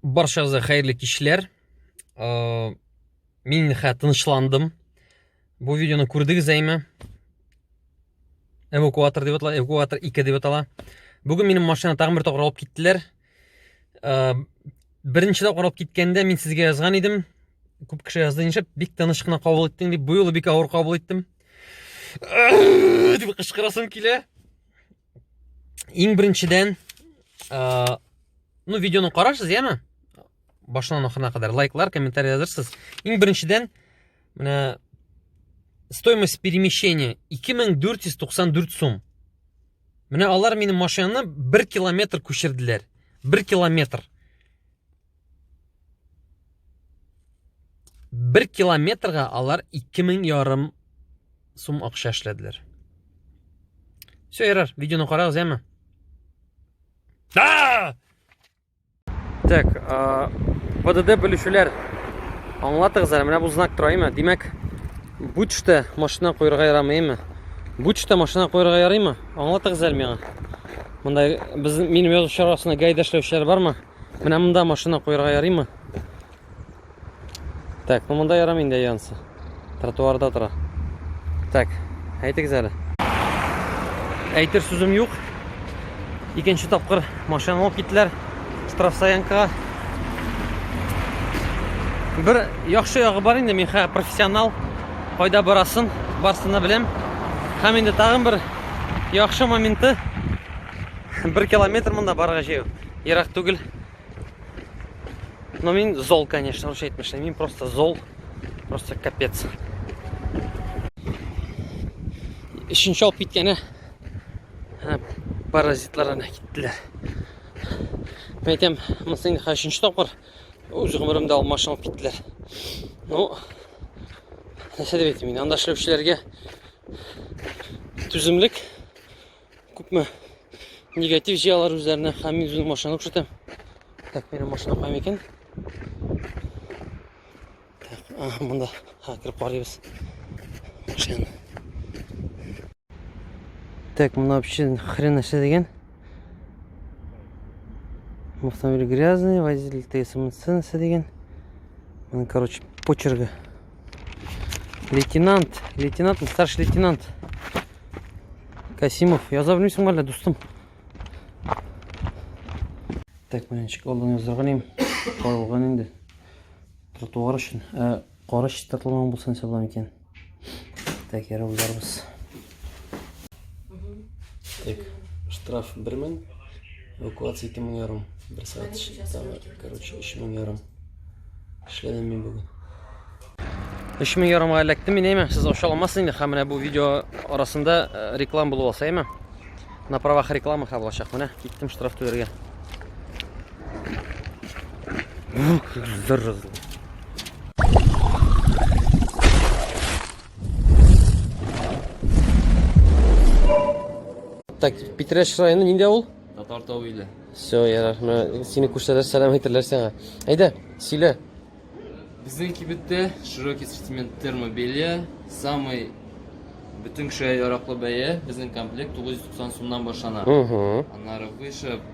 Баршагызга хәерле кичләр. Э, мин хә тынычландым. Бу видеоны күрдегез әйме? Эвакуатор дип атала, эвакуатор 2 дип атала. Бүген минем машина тагын бер тапкыр алып киттеләр. Э, беренче тапкыр алып киткәндә мин сезгә язган идем. Күп кеше язды ничек, бик тыныч кына кабул иттең дип, бу юлы бик авыр кабул иттем. Э, дип кычкырасым килә. Иң беренчедән, ә, ну, видеоны карарсыз, яме? Башынан ахырына кадәр лайклар, комментарий язырсыз. Иң беренчедән, менә стоимость перемещения 2494 сум. Менә алар минем машинаны 1 километр күчерделәр. 1 километр. Бер километрга алар 2000 ярым сум акча эшләделәр. Все, ярар, видеоны карагыз, яме? Да! Так, а, ПДД бүлешүләр. Аңлатыгыз әле, менә бу знак тора, әйме? Димәк, бучта машина куярга ярамый, әйме? Бучта машина куярга ярыймы? Аңлатыгыз әле миңа. Монда без минем язучы арасында гайда эшләүчеләр бармы? Менә монда машина куярга ярыймы? Так, ну монда ярамый инде янсы. Тротуарда тора. Так, әйтегез әле. Әйтер сүзем юк. Икенче тапкыр машина алып киттеләр штрафстоянкага. Бер яхшы ягы бар инде, мин хәзер профессионал. Кайда барасын, барсын да беләм. Һәм инде тагын бер яхшы моменты. 1 километр монда барырга җәю. Ерак түгел. Но мин зол, конечно, русча әйтмешне. Мин просто зол. Просто капец. Өченче алып киткәне паразитлар ана киттеләр. Мен әйтәм, монысы инде хәзер өченче тапкыр үз гомеремдә алып машина алып киттеләр. Ну, нәрсә дип әйтим мин, анда эшләүчеләргә түземлек күпме негатив җыя алар үзләренә һәм мин үземнең машинаны күрсәтәм так минем машина кайм икән так ага монда ха кереп карыйбыз машинаны так мына вообще хрен нәрсә дигән автомобиль грязный водитель тсмц нәрсә дигән короче почергі Лейтенант, лейтенант, старший лейтенант. Касимов, я яза белмисең мәллә, дустым? Так, менә ничек алдан язарга ним, калган инде. Тротуар өчен, ә кара чистартылмаган булсын исәпләм икән. Так, ярабызларыбыз. Так, штраф бер мең, эвакуация ике мең ярым. Бер сәгать эшләдем. Короче, өч мең ярым. Эшләдем мин бүген. Өч мең ярымга эләктем мин, әйме? Сез аша алмассыз инде, һәм менә бу видео арасында э, реклам булып алса, әйме? На правах рекламы ха булачак. Менә киттем штраф түләргә. Ух, Так, Питрәш районы нинди авыл? Татар тау иле. Все, ярар. Менә сине күрсәләр, сәлам әйтерләр сиңа. Әйдә, сөйлә. Безнең кибеттә широкий ассортимент термобелья, самый бөтен кешегә яраклы бәя, безнең комплект 990 сумнан башлана. Угу. Аннары выше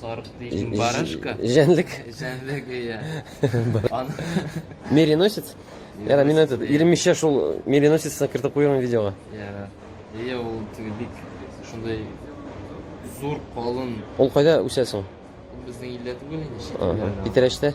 Сарык дисең, барашка. Җәнлек. Җәнлек, иә. Мериносец? Яра, мин әйтеп, иремешә шул мериносецны кертеп куйган видеога. Яра. Иә, ул теге бик шундай зур, калын. Ул кайда үсә соң? Безнең илдә түгел инде. Питрәчтә?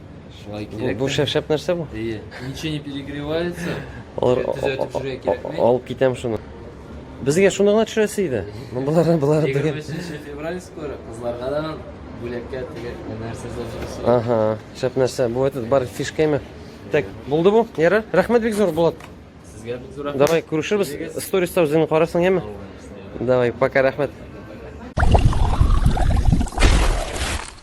Шулай Бу, кирәк. бу шәп-шәп нәрсә бу? Әйе. Ничего не перегревается. Алар Ә, төзәтеп җөрә кирәкми. алып китәм шуны. Безгә шуны гына төшерәсе иде. Болар болар Егерме дигән. өченче февраль скоро. Кызларга да бүләккә теге нәрсә зажисы. Ага, шәп нәрсә. Бу этот бар фишками. Так, булды бу. Ярар. Рәхмәт бик зур Булат. Сезгә бик зур рәхмәт. Давай күрешербез. Килегез. Сториста үзеңне карасың, яме? Давай, пока, рәхмәт.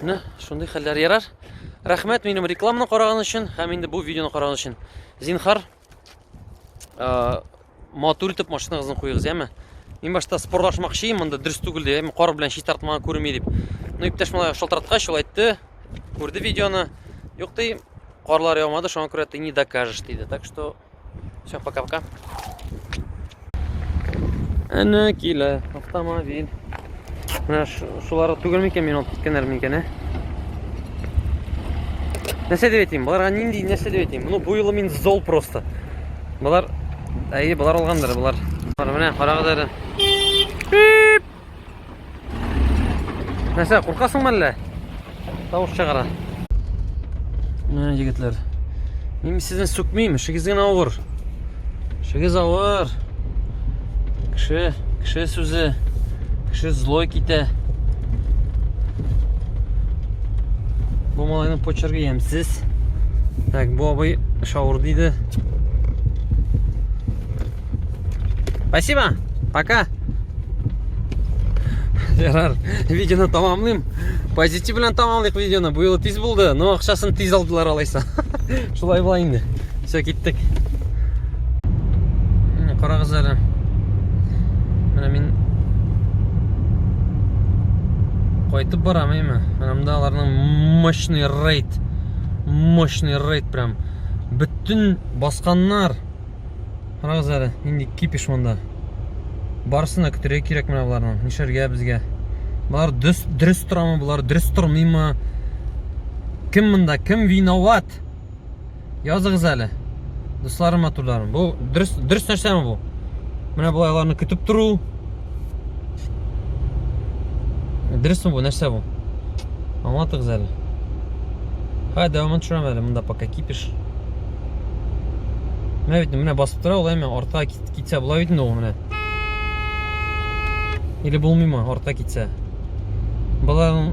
Менә шундый хәлләр ярар. Рәхмәт минем рекламаны караган өчен һәм инде бу видеоны караган өчен. Зинхар, э, матур итеп машинаныгызны куегыз, яме. Мин башта спорлашмакчы идем, монда дөрес түгел ди, кар белән чи тартмага күрми дип. Ну, иптәш малай шалтыраткач, ул әйтте, күрде видеоны. Юк ди, карлар яумады, шуңа күрә ты не докажешь диде. Так что Все, пока-пока. Әнә килә автомобиль. Менә шулары түгел микән мин алып киткәннәр микән, ә? Нәрсә дип әйтим? Боларга нинди нәрсә дип әйтим? Ну, бу юлы мин зол просто. Болар әйе, болар алгандыр, болар. Болар менә карагыз әле. Нәрсә, куркасыңмы әллә? Тавыш чыгара. Менә егетләр. Мин сезне сүкмим, эшегез генә авыр. Эшегез авыр. Кеше, кеше сүзе, кеше злой китә. Бу малайның почерге ямсыз. Так, бу абый шаур диде. Спасибо, пока. Ярар, видеоны тамамлыйм. Позитив белән тамамлыйк видеоны. Бу юлы тиз булды, но акчасын тиз алдылар алайса. Шулай була инде. Все, киттек. Карагыз әле. Менә мин кайтып барам әйме. Анамда аларның мощный рейд. Мощный рейд прям. Бөтен басканнар. Карагыз әле, нинди кипиш монда. Барысына көтәргә кирәк менә боларның. Нишәргә безгә? Болар дөрес дөрес торамы, болар дөрес тормыймы? Кем монда, кем виноват? Языгыз әле. Дусларым матурларым. Бу дөрес дөрес нәрсәме бу? Менә болай аларны көтеп тору, Дөресме бу, нәрсә бу? Аңлатыгыз әле. Ха, дәвамын төшерәм әле, монда пока кипиш. Менә бит, менә басып тора, улай мен артка китсә болай бит инде ул менә. Или булмыймы, артка китсә. Баланың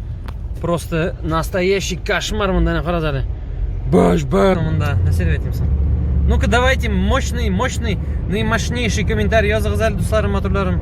Просто настоящий кошмар мында не карады әле. Баш бар мында. Нәрсә дип әйтимсең? Ну-ка давайте мощный, мощный, наимощнейший комментарий языгыз әле дусларым, матурларым.